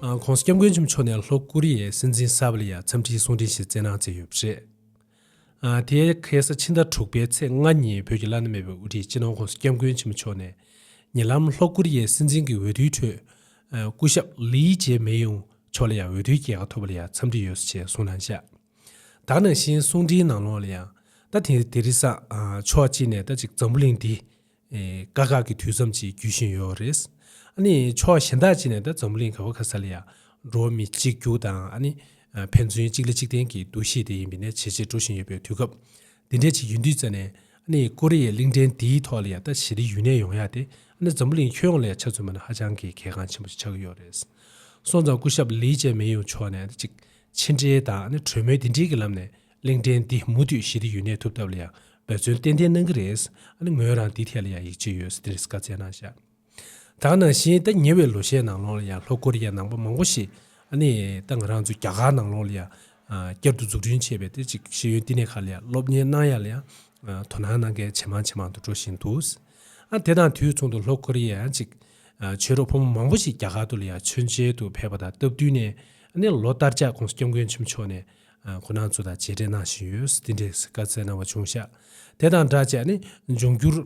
ཁོང་སྐྱབས་མགོན་ཆེན་པོ་མཆོག་ནས་ལྷོ་ཀོ་རི་ཡའི་སྲིད་འཛིན་ས་བྷི་ལ་ཡར་འཚམས་འདྲིའི་གསུང་འཕྲིན་ཞིག་བསྩལ་གནང་མཛད་ཡོད་པ་རེད། དེ་གའི་ས་ཕྱི་ཟླ་དྲུག་པའི་ཚེས་ལྔ་ཉིན་བོད་ཀྱི་བླ་ན་མེད་པའི་དབུ་ཁྲིད་སྤྱི་ནོར་ཁོང་སྐྱབས་མགོན་ཆེན་པོ་མཆོག་ནས་ཉེ་ལམ་ལྷོ་ཀོ་རི་ཡའི་སྲིད་འཛིན་གྱི་འོས་བསྡུའི་ཁྲོད་སྐུ་ཞབས་ལིས་ཇེ་མེ་ཡུང་མཆོག་ལ་ཡང་འོས་བསྡུའི་རྒྱལ་ཁ་ཐོབ་པ་ལ་ཡང་འཚམས་འདྲི་ཡོད་ཞེས་གསུངས་གནང་བཞག་དག་ནང་བཞིན་གསུང་འཕྲིན་ནང་ལོགས་ལ་ཡང་ད་དེ་རི་སངས་མཆོག་ཅིག་ནས་ད་ཅིག་འཛམ་བུ་གླིང་འདི་དཀའ་ཁག་གི་དུས་མཚམས་ཅིག་བརྒྱུད་བཞིན་ཡོད་རེད། ཕྱོགས་གཞན་དག་ཅིག་ནས་ད་འཛམ་གླིང་ག་བ་ག་ས་ལ་ཡང་འགྲོ་བ་མི་གཅིག་རྒྱུགས་དང་ཕན་ཚུན་གཅིག་ལ་གཅིག་བརྟེན་གྱི་འདུ་ཤེས་དེ་ཡིན་པའི་ནས་ཇེ་ཆེར་འགྲོ་བཞིན་ཡོད་པའི་དུས་སྐབས་འདི་འདྲ་ཅིག་ཡོད་དུས་རྩ་ནས་ཀོ་རི་ཡའི་གླིང་ཕྲན་འདིའི་ཐོག་ལ་ཡང་ད་ཞི་ལི་ཡུལ་ནས་ཡོང་ཡག་དེ་འཛམ་གླིང་ཁྱོན་ཡོངས་ལ་ཡང་ཆ་མཚོན་པ་ནི་ཧ་ཅང་གི་གལ་འགངས་ཆེན་པོ་ཅིག་ཆགས་ཀྱི་ཡོད་རེད། སོང་ཙང་སྐུ་ཞབས་ལི་ཅན་མིན་ཡུང་མཆོག་ནས་ཅིག་ཕྱི་འབྲེལ་དང་གྲོས་མོལ་འདི་འདྲིའི་གི་ལམ་ནས་གླིང་ཕྲན་འདི་མུ་མཐུད་ཞི་བདེ་ཡུན་གནས་ཐུབ་ཐབས་ལ་ཡང་འབད་བརྩོན་ཏན་ཏན་གནང་གི་རེད། ཨ་ནི་ངོས་རང་འདི་ཐད་ལ་ཡང་ཡིད་ཆེས་ཡོད་ཟེར་ཏེ་རེས་བཀའ་བསྩལ་གནང་བཞག་དང་ནང་བཞིན་ད་ཉེ་བའི་ལོ་ཤས་ནང་ལོགས་ལ་ཡང་ལྷོ་ཀོ་རི་ཡའི་ནང་པ་མང་པོ་ཞིག་ཨ་ནི་ད་ང་རང་ཚོའི་རྒྱ་གར་ནང་ལོགས་ལ་ཡང་བསྐྱར་དུ་འཛུགས་སྐྲུན་བྱས་པའི་དེ་ཅིག་ཤེས་ཡོན་བསྟི་གནས་ཁག་ལ་ཡང་སློབ་གཉེར་གནང་ཡ་ལ་ཡང་དོ་སྣང་གནང་མཁན་ཇེ་མང་ཇེ་མང་དུ་འགྲོ་བཞིན་འདུག་ཨ་དེ་དང་དུས་མཚུངས་དུ་ལྷོ་ཀོ་རི་ཡའི་ཡང་ཅིག་ཆོས་རོགས་ཕོ་མོ་མང་པོ་ཞིག་རྒྱ་གར་དུ་ལ་ཡང་མཆོད་མཇལ་དུ་ཕེབས་པ་དང་སྟབས་བསྟུན་ནས་ཨ་ནི་ལོ་ལྟར་ལྕགས་ཀོང་སྐྱབས་མགོན་ཆེན་མོ་མཆོག་ནས་ཁོ་ནང་ཚོ་དང་བྱས་འབྲེལ་གནང་བཞིན་ཡོད་དེ་འདྲའི་བཀའ་བསྩལ་གནང་བ་བྱུང་ཤག་དེ་དང་སྦྲགས་བྱས་ནས་འབྱུང་འགྱུར་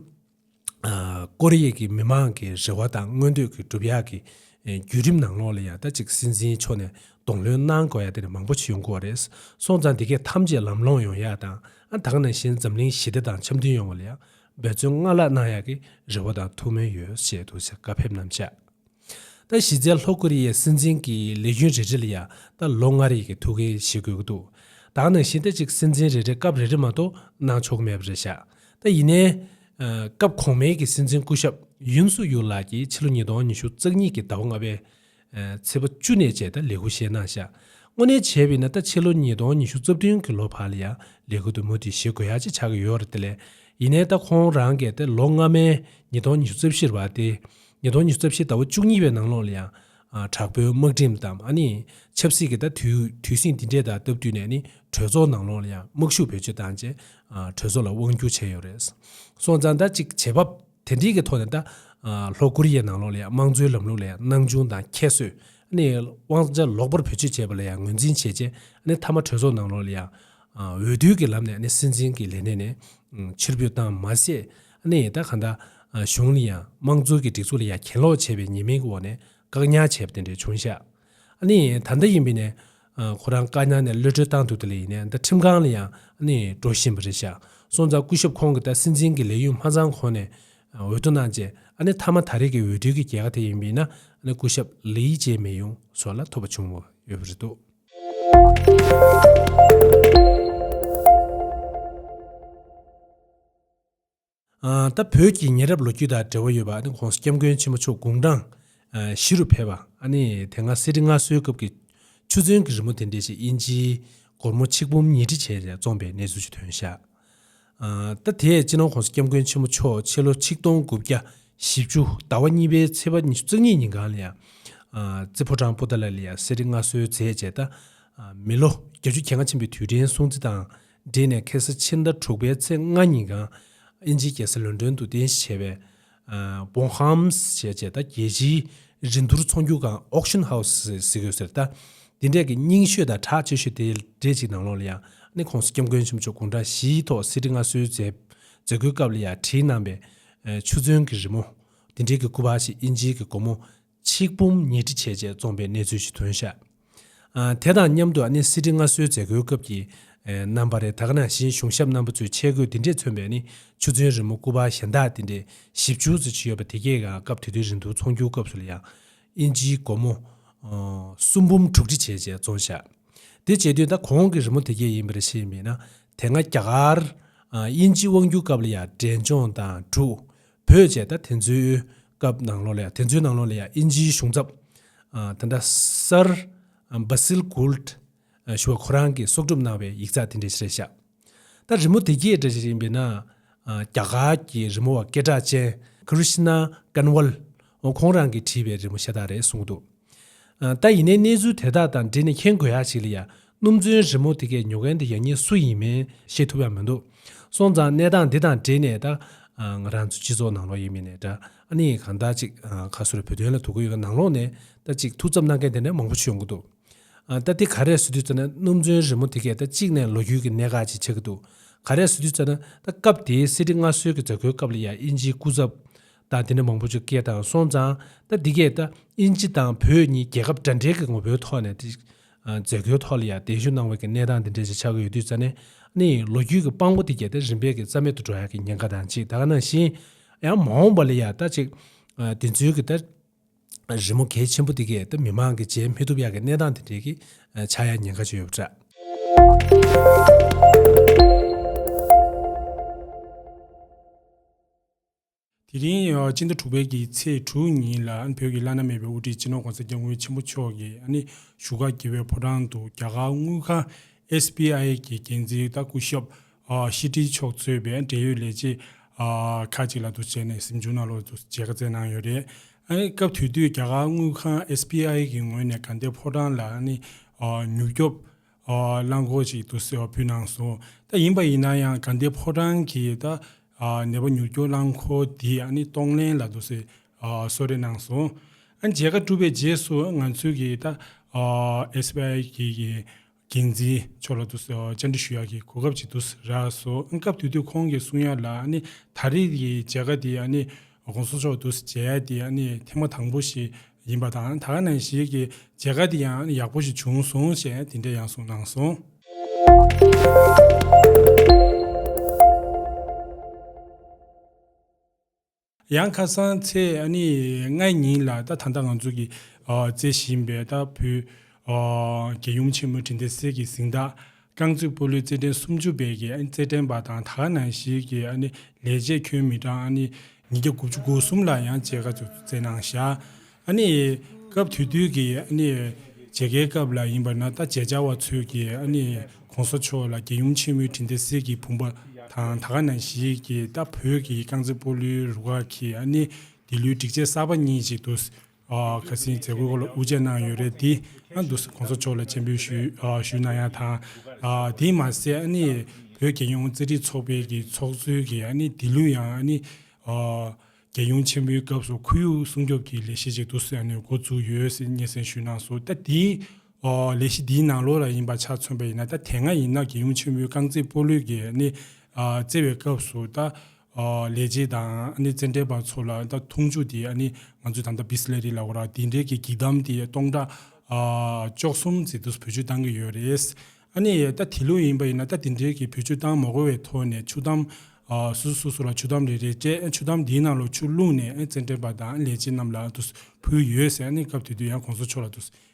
ཀོ་རི་ཡའི་གི་མི་མང་གི་རེ་བ་དང་མངོན་འདོད་ཀྱི་སྒྲུབ་ཡག་གི་བརྒྱུད་རིམ་ནང་ལོགས་ལ་ཡང་ད་ཅིག་སྲིད་འཛིན་མཆོག་ནས་གདོང་ལྷོད་གནང་དགོས་ཡག་དེ་ནས་མང་པོ་ཞིག་ཡོང་དགོས་བ་རེད་སོང་ཙང་དེ་གས་ཐམས་ཅད་ལམ་ལྷོང་ཡོང་ཡག་དང་ཨ་དང་ནང་བཞིན་འཛམ་གླིང་ཞི་བདེ་དང་འཆམ་མཐུན་ཡོང་བ་ལ་ཡང་འབད་བརྩོན་སྔར་ལྷག་གནང་ཡག་གི་རེ་བ་དང་ཐུགས་སྨོན་ཡོད་བཤད་འདུག་བཀའ་ཕེབས་གནང་ཤག། ད་གཞི་རྩའི་ལྷོ་ཀོ་རི་ཡའི་སྲིད་འཛིན་གྱི་ལས་རྒྱུན་རེ་རེ་ལ་ཡང་ད་ལོ་ལྔ་རེ་གི་ཐུགས་འགན་བཞེས་དགོས་ཀྱི་འདུག་དྭགས་ནང་བཞིན་ད་ཅིག་སྲིད་འཛིན་རེ་རེ་སྐབས་རེ་རེ་མ་གཏོགས་གནང་ཆོག་གི་མེད་པ་རེད་བཞག་ད་ཡིན་ནའི། སྐབས་གོང་མའི་གི་སྲིད་འཛིན་སྐུ་ཞབས་ཡུན་སུག་ཡུལ་ལགས་ཀྱིས་ཕྱི་ལོ་ཉིས་སྟོང་ཉི་ཤུ་རྩ་གཉིས་གི་ཟླ་བ་ལྔ་པའི། ཚེས་པ་བཅུ་ནས་བཅས་ད་ལས་ཁུར་བཞེས་གནང་བཞག་དངོས་གནས་བྱས་པ་ཡིན་ན་ད་ཕྱི་ལོ་ཉིས་སྟོང་ཉི་ཤུ་རྩ་བདུན་གི་ལོ་བར་ལ་ཡང་ལས་ཁུར་དུ་མུ་མཐུད་བཞེས་དགོས་ཡག་ཅིག་ཆགས་ཀྱི་ཡོད་རེད་དེ་ལས་ཡིན་ནའི་ད་ཁོང་རང་གས་ད་ལོ་སྔ་མའི་ཉིས་སྟོང་ཉི་ཤུ་རྩ་བཞིར་བར་ཏེ། ཉིས་སྟོང་ཉི་ཤུ་རྩ་བཞི་ཟླ་བ་བཅུ་གཉིས་པའི་ནང་ལོགས་ལ་ཡང། དྲག་པོའི་དམག་ཁྲིམས་དང་ཆབ་སྲིད་ཀྱི་ད་དུས་སྲིད་འདི་འདྲས་དང་སྟབས་བསྟུན་ནས་ནི་གྲོས་ཚོགས་ནང་ལོགས་ལ་ཡང་དམག་ཤུགས་བེད་སྤྱོད་བཏང་རྗེས། གྲོས་ཚོགས་ལ་དབང་སྒྱུར་བྱས་ཡོད་རེད། སོང་ཙང་ད་ཅིག་བྱེད་བབ་དེ་འདྲིས་ཀྱི་ཐོག་ནས་ད། ལྷོ་ཀོ་རི་ཡའི་ནང་ལོགས་ལ་ཡང་དམངས་གཙོའི་ལམ་ལུགས་ལ་ཡང་སྣང་ཆུང་དང་ཁྱད་གསོད། དབང་ཆ་ལོག་པར་བེད་སྤྱོད་བྱས་པ་ལ་ཡང་ངོས་འཛིན་བྱས་རྗེས་མཐའ་མ་གྲོས་ཚོགས་ནང་ལོགས་ལ་ཡང། འོས་བསྡུའི་ཀྱི་ལམ་ནས་ནི་སྲིད་འཛིན་གྱི་ལས་གནས་ནས་ཕྱིར་ཕུད་བཏང་མ་ཟད། གནས་ཡས་དག་གང་དག། གཞུང་ལ་ཡང་དམངས་གཙོ་གི་སྒྲིག་འཛུགས་ལ་ཡང་གྱེན་ལོག་བྱས་པའི་ཉེས་མིང་གི་འོག་ནས་བཀག་ཉར་བྱས་པ་དེ་འདྲའི་བྱུང་ཤག། གནས་ཡས་ད་ལྟ་ཡིན་པའི་ནས། ཁོ་རང་བཀག་ཉར་ནས་གློད་གྲོལ་བཏང་འདུག་དེ་ལ་ཡིན་ནས་ད་ཁྲིམས་ཁང་ལ་ཡང་གནས་ཡས་འགྲོ་བཞིན་པ་རེད་ཤག་སོང་ཙང་སྐུ་ཞབས་ཁོང་གི་ད་སྲིད་འཛིན་གི་ལས་ཡུན་མ་ཚང་གོང་ནས་འོས་བསྡུ་གནང་རྗེས་ཨ་ནི་ཐ་མ་ད་རེས་ཀྱི་འོས་བསྡུའི་གི་རྒྱལ་ཁ་དེ་ཡིན་པའི་ཡིན་ན་ཨ་ནི་སྐུ་ཞབས་ལི་ཡི་ཅེ་མེ་ཡུང་སོགས་ལ་ཐོབ་པ་བྱུང་བ་ཡོད་པ་རེད་འདུག། ད་བོད་ཀྱི་ཉེ་རབས་ལོ་རྒྱུས་དང་འབྲེལ་བ་ཡོད་པ ྋགོང་ས་སྐྱབས་མགོན་ཆེན་པོ་མཆོག་དགུང་གྲངས་བཞི་རུ་ཕེབས་པ་དེ་སྔ་གསེར་ཁྲི་མངའ་གསོལ་སྐབས་ཀྱི་ཆུ་ཚོན་གྱི་རི་མོ་དེ་འདྲའི་ཞིག་དབྱིན་ཇིའི་སྒོར་མོ་ཆིག་འབུམ་ཉིས་ཁྲི་བྱས་ནས་བཙོངས་པའི་གནས་ཚུལ་ཅིག་ཐོན་ཤག་ད་དེས་ཕྱི་ནང ྋགོང་ས་སྐྱབས་མགོན་ཆེན་པོ་མཆོག་ཕྱི་ལོ་ཆིག་སྟོང་དགུ་བརྒྱ་བཞི་བཅུ་ཟླ་བ་གཉིས་པའི་ཚེས་པ་ཉི་ཤུ་རྩ་གཉིས་ཉིན་གངས་ལི་རྩེ་ཕོ་བྲང་པུ་ཏཱ་ལ་ལི་ཡར་གསེར་ཁྲི་མངའ་གསོལ་མཛད་རྗེས་ད་མི་ལོ་བརྒྱ་བཅུ་གྱ་ལྔ་ཕྱིན་པའི་དུས་དྲན་སྲུང་བརྩི་དང་སྦྲེལ་ནས་ཁེ་སི་ཕྱི་ཟླ་དྲུག་པའི་ཚེས་ལྔ་ཉིན་གངས་ཨན་ཇིའི་རྒྱལ་སའི་ལོན་ཏོན་དུ་རྟེན་གཞི་བྱས་པའི། Bon Homes། ཞེས་བྱས་ལྟ་རྒྱལ་སྤྱིའི་རི་མཐུར་ཚོང་བསྒྱུར་ཁང། Auction House། ཟེར་དགོས་ཟེར་ལྟ། དེ་འདྲས་ཀྱི་རྙིང་ཤོས་དང་གྲགས་ཆེ་ཤོས་དེའི་གྲས་གཅིག་ནང་ལོགས་ལ་ཡང་ནི་ཁོང་སྐྱབས་མགོན་ཆེན་པོ་མཆོག་དགུང་གྲངས་བཞིའི་ཐོག་གསེར་ཁྲི་མངའ་གསོལ་མཛད་སྒོའི་སྐབས་ལ་ཡང་བྲིས་གནང་པའི། ཆུ་ཚོན་གྱི་རི་མོ། དེ་འདྲས་ཀྱི་སྐུ་པར་ཞིག་ཨིན་ཇིའི་གི་སྒོ་མོ། ཆིག་འབུམ་ཉིས་ཁྲི་ཆེ་ཆེ་བཙོངས་པའི་གནས་ཚུལ་ཞིག་ཐོན་ཤག་དེ་དང་མཉམ་དུ་ནི་སྲིད་ཁྲི་སྔ་སྲོལ་མཛད་སྒོའི་སྐབས་ཀྱི་རྣམ་པ་རེད་ད་ག་ནང་བཞིན་གཞུང་ཞབས་རྣམ་པ་ཚོའི་ཆས་གོས་འདི་འདྲས་མཚོན་པའི་ནི་ཆུ་ཚོན་རི་མོ་སྐུ་པར་གཞན་དག་འདི་འདྲས་བཞི་བཅུ་ཙི་ཆི་ཡོད་པ་དེ་གས་ཀྱང་སྐབས་དེ་དུས་རིན་དུ་ཚོང་རྒྱུའི་སྐབས་སུ་ལ་ཡང་ཨིན་ཇིའི་སྒོར་མོ་སུམ་འབུམ་དྲུག་ཁྲི་ཆེ་ཆེ་བཙོངས་ཤག་དེ་བྱེད་དུས་ད་གོང་གི་རི་མོ་དེ་གས་ཡིན་པ་རེད་ཤེས་མེད་ན་དེ་སྔ་རྒྱ་གར་ཨིན་ཇི་དབང་བསྒྱུར་སྐབས་ལ་ཡང་འབྲས་ལྗོངས་དང་དྲུག་བོད་ཅེས་ད་དེ་ཚོའི་སྐབས་ནང་ལོགས་ལ་ཡང་དེ་ཚོའི་ནང་ལོགས་ལ་ཡང་ཨིན་ཇིའི་གཞུང་ཚབ་དེ་འདྲ་སར Basil Gould ཞུ་བ་ཁོ་རང་གིས་གསོག་སྒྲུབ་གནང་བའི་ཡིག་ཚགས་དེ་འདྲའི་ཞིག་རེད་ཤག་ད་རི་མོ་དེ་རྒྱས་འདྲ་ཞིག་རེད་ཡིན་པས་ན་རྒྱ་གར་གྱི་རི་མོ་བ་སྐད་གྲགས་ཅན Krishna Kanwal ཁོང་རང་གིས་བྲིས་པའི་རི་མོ་ཤ་སྟག་རེད་གསུང་གི་འདུག་ད་ཡིན་ནའི་གནས་ཚུལ་དེ་དག་དང་འབྲེལ་ནས་མཁྱེན་དགོས་ཡག་ཞིག་ལ་ཡ། སྣུམ་ཚོན་རི་མོ་དེ་གས་ཉོ་མཁན་དེ་ཡག་ཉེས་སུ་ཡིན་མིན་ཤེས་ཐུབ་ཡག་མི་འདུག་སོང་ཙང་གནས་སྟངས་འདི་དང་འབྲེལ་ནས་ད། ང་རང་ཚོ་སྤྱི་ཚོགས་ནང་ལོགས་ཡིན་མིན་ནས་ད་ཨ་ནི་གང་ལྟར་ཅིག་ཁ་སུ་རེ་བོད་དོན་ལ་དོ་ཁུར་ཡོད་ཀ་ནང་ལོགས་ནས་ད་ཅིག་ཐུགས་འཚབ་གནང་མཁན་དེ་འདྲ་མང་པོ་བྱུང་གི་འདུག་ད་དེ་ག་རེ་བཟོ་དུས་ཙེ་ན་སྣུམ་ཚོན་རི་མོ་དེ་གས་ད་གཅིག་ནས་ལོ་རྒྱུས་ཀྱི་གནད་འགག་ཅིག་ཆགས་ཀྱི་འདུག་ག་རེ་བཟོ་དུས་ཙེ་ན་ད་སྐབས་དེའི་གསེར་ཁྲི་མངའ་གསོལ་གྱི་མཛད་སྒོའི་སྐབས་ལ་ཡ་དབྱིན་ཇིའི་སྐུ་ཚབ། ད་དེ་འདྲ་མང་པོ་ཅིག་སྐད་དང་སོང་ཙང་ད་འདི་གས་ད་དབྱིན་ཇི་དང་བོད་གཉིས་རྒྱལ་ཁབ་འདྲ་འདྲའི་གི་ངོ་བོའི་ཐོག་ནས་ཏིག་མཛད་སྒོའི་ཐོག་ལ་ཡང་གདན་ཞུ་གནང་བའི་གི་གནས་སྟངས་འདི་འདྲ་ཅིག་ཆགས་ཀི་ཡོད་དུས་ཙ་ནས་ནི་ལོ་རྒྱུས་གི་དཔང་པོ་འདི་གས་ད་རིམ་པས་གི་རྩ་མེད་དུ་འགྲོ་ཡག་གི་ཉེན་ཁ་དང་ཅིག་ད་ག་ནང་བཞིན་ཡང་མ་འོངས་པ་ལ་ཡང་ད་ཅིག་འདི་ཚོའི་གི་ད་རི་མོ་གལ་ཆེན་པོ་འདི་གས་ད་མི་མང་གི་མཇལ་མི་ཐུབ་ཡག་གི་གནས་སྟངས་འདི་འདྲའི་གི་ཆགས་ཡག་ཉེན་ཁ་ཅིག་ཡོད་པ་འདྲ། དེ་རིང་སྤྱི་ཟླ་དྲུག་པའི་གི་ཚེས་དྲུག་ཉིན་ལ་བོད་ཀྱི་བླ་ན་མེད་པའི་དབུ་ཁྲིད་སྤྱི་ནོར ྋགོང་ས ྋསྐྱབས་མགོན་ཆེན་པོ་མཆོག་གིས་བཞུགས་སྒར་དགེ་བའི་ཕོ་བྲང་དུ་རྒྱ་གར་དངུལ་ཁང SBI གི་འགན་འཛིན་ལྟ་སྐུ་ཞབས་ཤི་ཏི་མཆོག་གཙོས་པའི་འབྲེལ་ཡོད་ལས་བྱེད་ཁག་ཅིག་ལ་དུ་བྱས་ནས་གཟིམ་ཆུང་ནང་ལོག་དུ་མཇལ་ཁ་བསྩལ་གནང་ཡོད་རེད། སྐབས་དེ་དུས་རྒྱ་གར་དངུལ་ཁང SBI གི་ངོས་ནས་དགའ་ལྡན་ཕོ་བྲང་ལ་མྱུར་སྐྱོབ་རླངས་འཁོར་ཞིག་ཏུ་སེར་བ་ཕུད་གནང་སོང། ད་ཡིན་པ་ཡིན་ན་ཡང་དགའ་ལྡན་ཕོ་བྲང་གི་ད་ནད་པ་མྱུར་སྐྱོབ་རླངས་འཁོར་འདི་ཨ་ནི་གཏོང་ལེན་ལ་འདུག་ཟེར་གསོལ་རས་གནང་སོང། ཨ་མཇལ་ཁ་གྲུབ་པའི་རྗེས་སུ་ང་ཚོའི་གི་ད SBI གི་འགན་འཛིན་མཆོག་ལ་ཏུ་བཅར་འདྲི་ཞུ་ཡག་གི་གོ་སྐབས་ཅིག་འདུག་ཟེར་ར་སོང། ཨ་སྐབས་དེ་དུས་ཁོང་གི་གསུང་ཡག་ལ་ཨ་ནི་ད་རེས་ཀྱི་མཇལ་ཁ་འདི་ཨ་ནི་དགོང་ཟོ་མཆོག་ཏུ་མཇལ་ཏེ་ཨ་ནི་ཐེངས་མ་དང་པོ་ཞིག་ཡིན་པ་དང་ད་ནངས་ཤིག་གི་མཇལ་ཁ་འདི་ཡང་ཡག་པོ་ཞིག་བྱུང་སོང་ཞེས་དེ་འདྲའི་ཡང་གསུངས་གནང་སོང། ཡང་ཁ་སང་ཚེས་ལྔའི་ཉིན་ལ་ད་ད་ལྟ་ང་ཚོ་གིས་བརྩེ་བཞིན་པའི་ད་བུ་རྒན་ཡུམ་ཆེན་མོ་དྲིན་ལྡན་སྲས་ཀྱི་གཟིངས་རྟགས་རྐང་རྩེད་སྤོ་ལོའི་རྩེད་འགྲན་སུམ་ཅུ་པའི་རྩེད་འགྲན་པ་དང་ད་ག་ནང་ཞིག་གི་ལས་བྱེད་ཁྱོན་མི་གྲངས་ཉིས་བརྒྱ་དགུ་བཅུ་གོ་གསུམ་ལ་ཡང་བཅད་ཁ་བཙུགས་རྩེད་གནང་བཞག་སྐབས་དུས་དུས་ཀྱི་མཇལ་ཁའི་སྐབས་ལ་ཡིན་པ་ན་ལྟ་མཇལ་བྱ་བ་ཚོས་ཀྱི་གོང་ས་མཆོག་ལ་རྒྱལ་ཡུམ་ཆེན་མོའི་དྲིན་དེ་གསེར་གྱི་བུམ་པ་དང་ད་ག་ནང་ཞིག་གི་ལྟ་བོད་ཀྱི་རྐང་རྩེད་སྤོ་ལོའི་རུ་ཁག་གིས་དེ་ལོའི་སྒྲིག་ཆས་གསར་པ་གཉིས་ཤིག་ཏུ་ཁ་སིའི་མཛད་སྒོའི་སྐོར་ལ་དབུ་འབྱེད་གནང་ཡོད་རེད་དེ། ཨ་མདོ་སི་གོང་ས་མཆོག་ལ་མཆན་འབུལ་ཞུས་གནང་ཡ་དང། དེས་མ་ཟད་ཨ་ནི་བོད་རྒྱལ་ཡོངས་རྩེད་འགྲིག་ཚོགས་པའི་གི་ཚོགས་གཙོའི་གི་ཨ་ནི་དེ་ལུས་ཡང་ཨ་ནི། རྒྱལ་ཡོངས་ཆེན་མོའི་སྐབས་སུ་ཁུ་ཡུག་སྲུང་སྐྱོབ་ཀྱི་ལས་གཞི་ཅིག་ཏུ་སི་ཨ་ནི་འགོ་བཙུགས་ཡོད་སི་སྙན་སེང་ཞུས་གནང་སོང་ད་དེའི། ལས་གཞི་འདིའི་ནང་ལོ་ར་ཡིན་པ་ཆ་མཚོན་པ་ཡིན་ན་ད་དེ་སྔ་ཡིན་ན་རྒྱལ་ཡོངས་ཆེན་མོའི་རྐང་རྩེད་སྤོ་ལུས་ཀྱི་ཨ་ནི། རྩེ་བའི་སྐབས་སུ་ད། ལས་བྱེད་དང་རྩེད་འགྲན་པ་ཚོ་ལ་འཐུང་ཆུ་དེ་ང་ཚོས་ད་ལྟ Bisleri ལ་ཨོ་རག་དེ་འདྲའི་གི་གདམ་དེ་སྟོང་ཕྲག་བཅོ་གསུམ་བརྩི་དུས་སུ་བེད་སྤྱོད་གཏང་གི་ཡོད་རེད། ད་དེ་ལོ་ཡིན་པ་ཡིན་ན་ད་དེ་འདྲའི་གི་བེད་སྤྱོད་གཏང་མ་དགོས་བའི་ཐོག་ནས་ཆུ་དམ་སོ་སོ་སོ་སོ་ལ་ཆུ་དམ་རེ་རེ་སྤྲད་ཆུ་དམ་དེའི་ནང་ལོ་ཆུ་བླུགས་ནས་རྩེད་འགྲན་པ་དང་ལས་བྱེད་རྣམས་ལ་འདུས་བུལ་ཡོད་ཟེར་སྐབས་དེ་དུས་ཡང་གོང་ས་མཆོག་ལ་འདུས་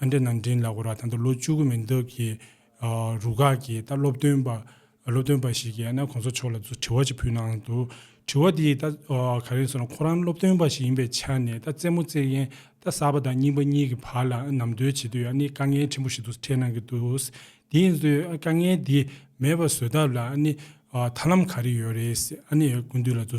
ཨ་འདྲེ་ནང་འདྲེན་ལ་གོ་ར་ད་ལྟ་ལོ་བཅུ་དགུ་མིན་སྟབས་ཀྱི་རུ་ཁག་གིས་ད་སློབ་སྟོན་པ་སློབ་སྟོན་པ་ཞིག་གིས་ཨ་ན་གོང་ས་མཆོག་ལ་དྲི་བ་ཅིག་ཕུལ་གནང་འདུག་དྲི་བ་དེ་ད་ག་རེད་ཟེར་ན་ཁོ་རང་སློབ་སྟོན་པ་ཞིག་ཡིན་པའི་ཆ་ནས་ད་རྩེད་མོ་རྩེ་མཁན་ད་གསར་པ་དང་རྙིང་པ་གཉིས་ཀྱི་བར་ལ་ནམ་དོལ་བྱེད་དུས་ཨ་ནི་དཀའ་ངལ་ཆེན་པོ་ཞིག་ཏུ་འཕྲད་གནང་གི་འདུག་དེ་ཡིན་ཚོད་ཨ་དཀའ་ངལ་དེ་མེད་པ་བཟོས་ཐབས་ལ་ཨ་ནི་ཐར་ལམ་ག་རེ་ཡོད་རེད་ཨ་ནི་ཀུན་འདུས་ལ་དུ་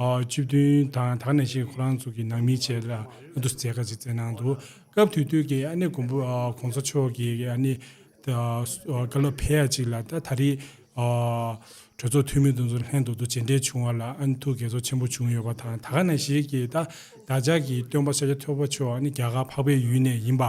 བཅུ་བདུན་དང་དག་ནས་ཤིག་ཁོ་རང་ཚོ་གི་ནང་མི་བཅས་ལ་ཨ་དུ་ཟེར་ཀ་ཅིག་བཙལ་གནང་འདུག་སྐབས་དུས་དུས་ཀྱི་ཨ་ནེ་གོང་བུ་གོང་ས་མཆོག་གི་ཨ་ནེ། བཀའ་སློབ་ཕལ་ཡ་ཅིག་ལ་ད་ད་རིས། གྲོས་ཚོགས་འཐུས་མི་དུ་ཚོ་ལྷན་དུ་དུ་བྱེད་འབྲེལ་བྱུང་བ་ལ་ཨ་ནེ་ཐུགས་དགྱེས་ཚོར་ཆེན་པོ་བྱུང་ཡོད་པ་དང་ད་ག་ནས་ཞིག་གིས་ད་བདག་ཅག་གི་སྟོན་པ་ཤཱཀྱ་ཐོད་པ་མཆོག་ནི་རྒྱ་གར་འཕགས་པའི་ཡུལ་ནས་ཡིན་པ།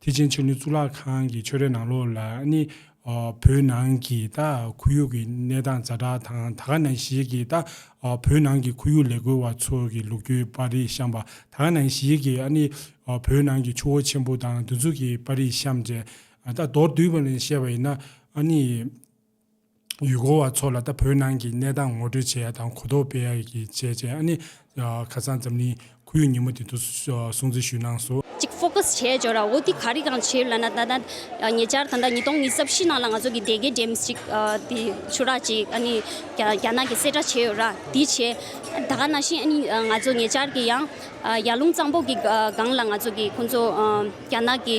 ཐེག་ཆེན་ཆོས་འབྲེལ་གཙུག་ལག་ཁང་གི་ཆོས་རའི་ནང་ལོགས་ལ་ནི། བོད་ནང་གི་ད་ཁོར་ཡུག་གི་གནས་སྟངས་རྩ་དྲག་དང་ད་ག་ནང་ཞིག་གི་ད་བོད་ནང་གི་ཁོར་ཡུག་ལས་འགུལ་བ་ཚོ་གི་ལུག་ཁྱུའི་པར་རིས་བཤམས་པ་ད་ག་ནང་ཞིག་གི་ནི། བོད་ནང་གི་ཆུ་བོ་ཆེན་པོ་དང་འདུ་འཛུགས་ཀྱི་པར་རིས་བཤམས་རྗེས་ད་མདོར་བསྡུས་པ་ནས་བཤད་པ་ཡིན་ན་ནི། ཡུལ་སྐོར་བ་ཚོ་ལ་ད་བོད་ནང་གི་གནས་སྟངས་ངོ་སྤྲོད་བྱས་དང་གོ་རྟོགས་སྤེལ་ཡག་གི་བྱས་རྗེས་ཨ་ནི། ཁ་སང་འཛམ་གླིང་ཁོར་ཡུག་ཉིན་མོ་དེ་ཚོ་སྲུང་བརྩི་ཞུས་གནང་སོ། གཅིག Focus བྱས་བྱོས་ར་འོ་དེ་ག་རིགས་རང་བྱེད་ལ་ན་ད་ད་ཉེ་ཆར་ད་ད་ཉིས་སྟོང་ཉི་ས་བཞི་ནང་ལ་ང་ཚོ་གི་སྡེ་དགེ་འགྲེམས་གཅིག་དེ་ཆུ་རགས་གཅིག་ཨ་ནི་རྒྱ་ནག་གི་གསལ་བསྒྲགས་བྱས་ཡོད་ར་དེ་བྱས་ད་ག་ན་བཞིན་ཨ་ནི་ང་ཚོ་ཉེ་ཆར་གི་ཡང་ཡར་ཀླུང་གཙང་པོ་གི་སྒང་ལ་ང་ཚོ་གི་ཁོང་ཚོ། རྒྱ་ནག་གི་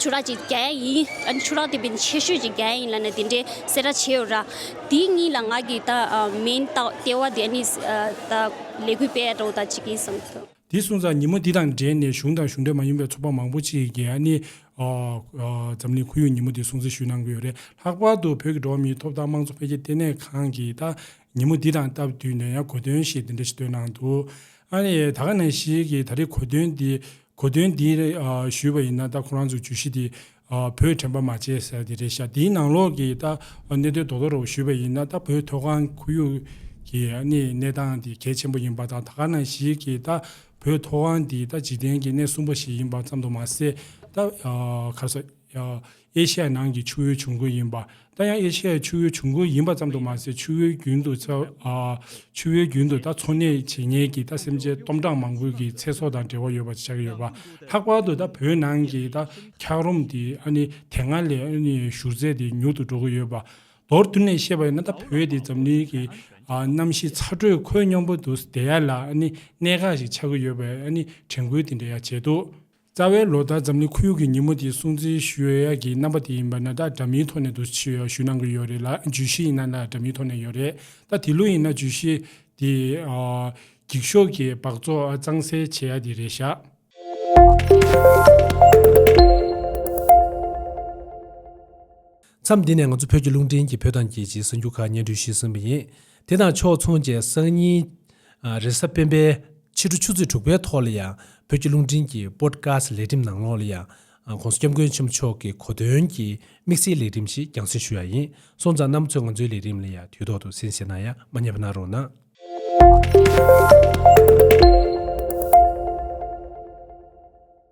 ཆུ་རགས་ཀྱི་རྒྱན་ཡིན། ཆུ་རགས་དེ་བས་ཆེ་ཤོས་ཀྱི་རྒྱན་ཡིན་ལ་ནི་དེ་འདྲའི་སེ་ར་ཆེའོ་ར། དེའི་གཉིས་ལ་ང་གིས་ད་མིན་ད་ལྟེ་བ་དེ་ནི་ད་ལས་གུས་པས་རོ་ད་ཅིག་ཡིན་བསམ་ཐུབ། དེ་སོང་ཙང་ཉིན་མོ་དེ་དང་འབྲེལ་ནས་གཞུང་དང་གཞུང་འབྲེལ་མ་ཡིན་པའི་ཚོགས་པ་མང་པོ་ཅིག་གིས་ནི་འཛམ་གླིང་ཁོར་ཡུག་ཉིན་མོ་དེ་སྲུང་བརྩི་ཞུས་གནང་གི་ཡོད་རེད། ལྷག་པར་དུ་བོད་ཀྱི་འགྲོ་བ་མིའི་ཐོབ་ཐང་དམངས་གཙོ་འཕེལ་རྒྱས་ལྟེ་གནས་ཁང་གིས་ད་ཉིན་མོ་འདི་དང་སྟབས་བསྟུན་ནས་ཡང་གོ་དོན་ཞིག་འདི་འདྲ་ཞིག་བཏོན་གནང་འདུག་ཨ་ནི་ད་ག་ནས་ཞིག་གིས་ད་རེས་གོ་དོན་འདི་གོ་དོན་འདི་ཞུས་པ་ཡིན་ན་ད་ཁོ་རང་ཚོ་བརྗོད་གཞི་འདི་བོད་དྲན་པ་མ་བྱས་ཟེར་བ་འདི་རེད་ཤག་འདིའི་ནང་ལོགས་ཀྱི་ད་གནད་དོན་རྡོག་རྡོག་རེ་བ་ཞུས་པ་ཡིན་ན་ད་བོད་མཐོ་སྒང་ཁོར་ཡུག་གི་ཨ་ནི་གནས་སྟངས་འདི་གལ་ཆེན་པོ་ཡིན་པ་དང་ད་ག་ནས་ཞིག་གིས་ད་བོད་མཐོ་སྒང་འདི་ད་འཇིག་རྟེན་གྱི་གནས་གསུམ་པ་ཞིག་ཡིན་པ་ཙམ་དུ་མ་ཟད་ད་གར་སོ། ཨེ་ཤི་ཡའི་ནང་གི་ཆུ་བོའི་བྱུང་ཁུངས་ཡིན་པ། ད་ཡང་ཨེ་ཤི་ཡའི་ཆུ་བོའི་བྱུང་ཁུངས་ཡིན་པ་ཙམ་དུ་མ་ཟད་ཆུ་བོའི་རྒྱུན་དུ་ཚ། ཆུ་བོའི་རྒྱུན་དུ་ད་འཚོ་གནས་བྱེད་ཉེས་ཀྱི་ད་སེམས་ཅན་སྟོང་ཕྲག་མང་པོའི་གི་ཚེ་སྲོག་དང་འབྲེལ་བ་ཡོད་པ་ཆགས་ཀྱི་ཡོད་པ། ལྷག་པར་དུ་ད་བོད་ནང་གི་ད་འཁྱག་རོམ་དེ་ཨ་ནི་དེ་སྔ་ལས་ཨ་ནི་བཞུར་ཚད་དེ་མྱུར་དུ་འགྲོ་གི་ཡོད་པ། མདོར་བསྡུར་ནས་བཤད་པ་ཡིན་ན་ད་བོད་དེ་འཛམ་གླིང་གི་གནམ་གཤིས་ཚ་དྲོད་ཁོད་སྙོམས་པོ་དུ་བདེ་ཡག་ལ་ཨ་ནི་གནད་འགག་ཞིག་ཆགས་ཀྱི་ཡོད་པའི་ཨ་ནི་དྲན་སྐུལ་དེ་འདྲ་ཡང་བྱས་འདུག་རྩ་བའི་ལོ་ལྟར་འཛམ་གླིང་ཁུལ་ཡོངས་ཀྱི་ཉིན་མོ་དེའི་སྲུང་བརྩི་ཞུ་ཡ་ཡག་གི་རྣམ་པ་དེ་ཡིན་པ་ན་ད་འདྲ་མིའི་ཐོག་ནས་དུ་ཞུ་ཡ་ཞུ་གནང་གི་ཡོད་རེད་ལ་བརྗོད་གཞི་ཡིན་ན་ད་འདྲ་མིའི་ཐོག་ནས་ཡོད་རེད་ད་དེ་ལོ་ཡིན་ན་བརྗོད་གཞི་དེ། འགྱིག་ཤོག་གི་སྦགས་བཙོག་གཙང་སེལ་བྱེད་ཡ་དེ་རེད་ཤག། མཚམས་འདི་ནས་ང་ཚོ་བོད་ཀྱི་རླུང་འཕྲིན་གྱི་བོད་དང་རྒྱལ་སྤྱིའི་གསར་འགྱུར་ཁག་སྙན་སྒྲོན་ཞུས་ཟིན་པ་ཡིན། དེ་དང་ཕྱོགས་མཚུངས་བཅས་སང་ཉིན། རེས་གཟའ་སྤེན་པའི་ཕྱི་དྲོ་ཆུ་ཚོད་དྲུག་པའི་ཐོག་ལ་ཡང་བོད་ཀྱི་རླུང་འཕྲིན་གྱི Podcast ལེགས་འགྲེམས་ནང་ལོགས་ལ་ཡང། ྋགོང་ས་སྐྱབས་མགོན་ཆེན་པོ་མཆོག་གི་གོ་སྟོན་གྱི་དམིགས་བསལ་ལེགས་འགྲེམས་ཤིག་རྒྱང་སྲིང་ཞུ་ཡ་ཡིན། སོང་ཙང་གནམ་མཚོས་ང་ཚོའི་ལེགས་འགྲེམས་ལ་ཡང་དུས་ཐོག་ཏུ་གསན་བཞེས་གནང་ཡ་མ་རྙེད་པ་གནང་རོགས་གནང།